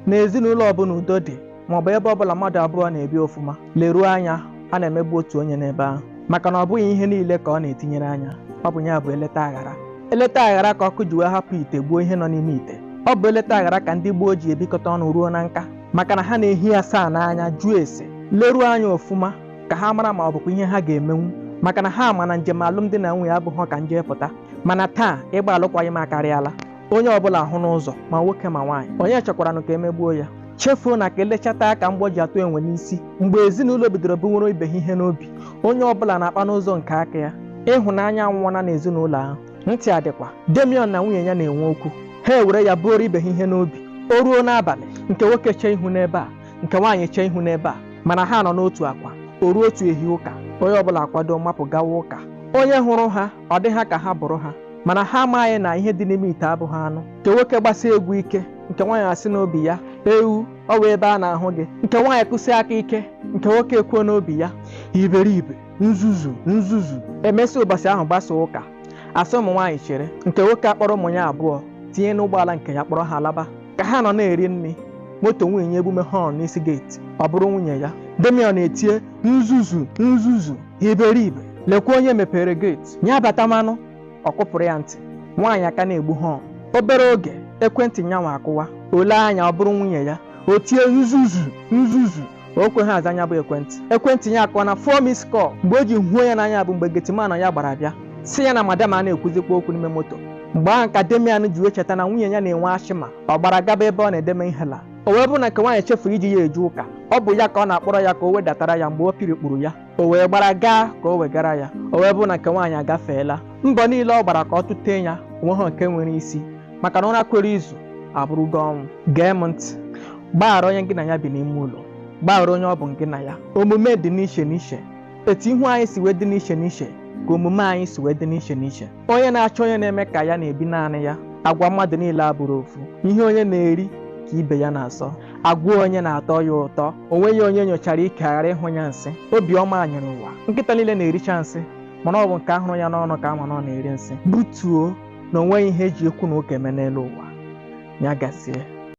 n'ezinụlọ ọbụla udo dị maọbụ ebe ọbụla mmadụ abụọ na-ebi ọfụma leruo anya a na-emegbu otu onye n'ebe ahụ maka na ọ bụghị ihe niile ka ọ na-etinyere anya ọ bụ ya bụ eleta aghara eleta aghara ka ọkụ ji wee hapụ ite gbuo ihe nọ n'ime ite ọ bụ eleta aghara ka ndị gboo ji ebikọta ọnụ ruo na nka maka na ha na-ehi asaa n'anya jụọ ese leruo anya ọfụma ka ha mara ma ọ bụkwa ihe ha ga-emenwu maka na ha ma na njem alụmdi na nwunye abụghị ka m je pụta mana taa ịgba alụkwaghịm akarịala onye ọbụla ahụna ụzọ ma nwoke ma nwaanyị onye chọkwaranụ ka emegbuo ya chefuo na ka elechata ka mgbọ ji atụ enwe n'isi mgbe ezinụlọ bidoro buwere ibe ha ihe n'obi onye ọbụla na-akpa n'ụzọ nke aka ya ịhụnanya anwụọna n'ezinụlọ ahụ ntị adịkwa damian na nwunye ya na-enwe okwu ha ewere ya buoro ibe ha ihe n'obi o ruo n'abalị nke nwoke chee ihu n'ebe a nke nwaanyị chee ihu n'ebe a mana ha nọ n'otu akwa o ruo otu ehi ụka onye ọbụla akwado mapụ gawa ụka onye hụrụ ha ọ dị ha ka ha bụrụ ha mana ha amaghị na ihe dị n'ime ite abụghị anụ nke nwoke gbasie egwu ike nke nwaanyị asị n'obi ya ewu ọ wụ ebe a na-ahụ gị nke nwaanyị kụsie aka ike nke nwoke ekwuo n'obi ya iberibe nzuzu nzuzu emesị ụbọchị ahụ gbasaa ụka asị ụmụ nwaanyị chere nke nwoke akpọrọ ụmụ ya abụọ tinye n'ụgbọala nke ya kpọrọ ha laba ka ha nọ na-eri nri moto nwunye ya egbume họn n'isi geeti ọ bụrụ nwunye ya damian etie nzuzu nzuzu iberibe lekwa onye mepere geeti ya batamanụ ọ kụpụrụ ya ntị nwaanyị a ka na-egbu họn obere oge ekwentị nyanwa akụwa o lee anya ọ bụrụ nwunye ya o tie nzuzu nzuzu o kweghị aza nya bụ ekwentị ekwentị ya akụọna four missed call mgbe o ji huo ya n'anya bụ mgbe getiman ya gbara bịa sị ya na madam a na-ekwuzikwa okwu n'ime moto mgbe ahụ ka damian ji wee cheta na nwunye ya na-enwe asthma ọ gbara gaba ebe ọ na-edeme inhaler o wee bụrụ na nke nwaanyị chefuru iji ya eje ụka ọ bụ ya ka ọ na-akpọrọ ya ka o wedatara ya mgbe o pirikpuru ya o wee gbara gaa ka o wegara ya o wee bụrụ na nke nwaanyị agafeela mbọ niile ọ gbara ka ọ tụtee ya o nweghị nke nwere isi maka na ụra kwere izu abụrụgo ọnwụ gee m ntị gbaghara onye gị na ya bi n'ime ụlọ gbaghara onye ọ bụ gị na ya omume dị n'iche n'iche etu ihu anyị si wee dị n'iche n'iche ka omume anyị si wee dị n'iche n'iche onye na-achọ onye na-eme ka ya na-ebi naanị ya agwa mmadụ niile abụrọ ofu ihe onye na-eri ka ibe ya na-asọ agwa onye na-atọ ya ụtọ o nweghị onye nyochara ike ghara ịhụ ya nsị obiọma nyere ụwa nkịta niile na-ericha nsị mana ọ bụ nke ahụrụ ya n'ọnụ ka ama na ọ na-eri nsị butuo na o nweghị ihe eji okwu na ụka eme n'elu ụwa ya gazie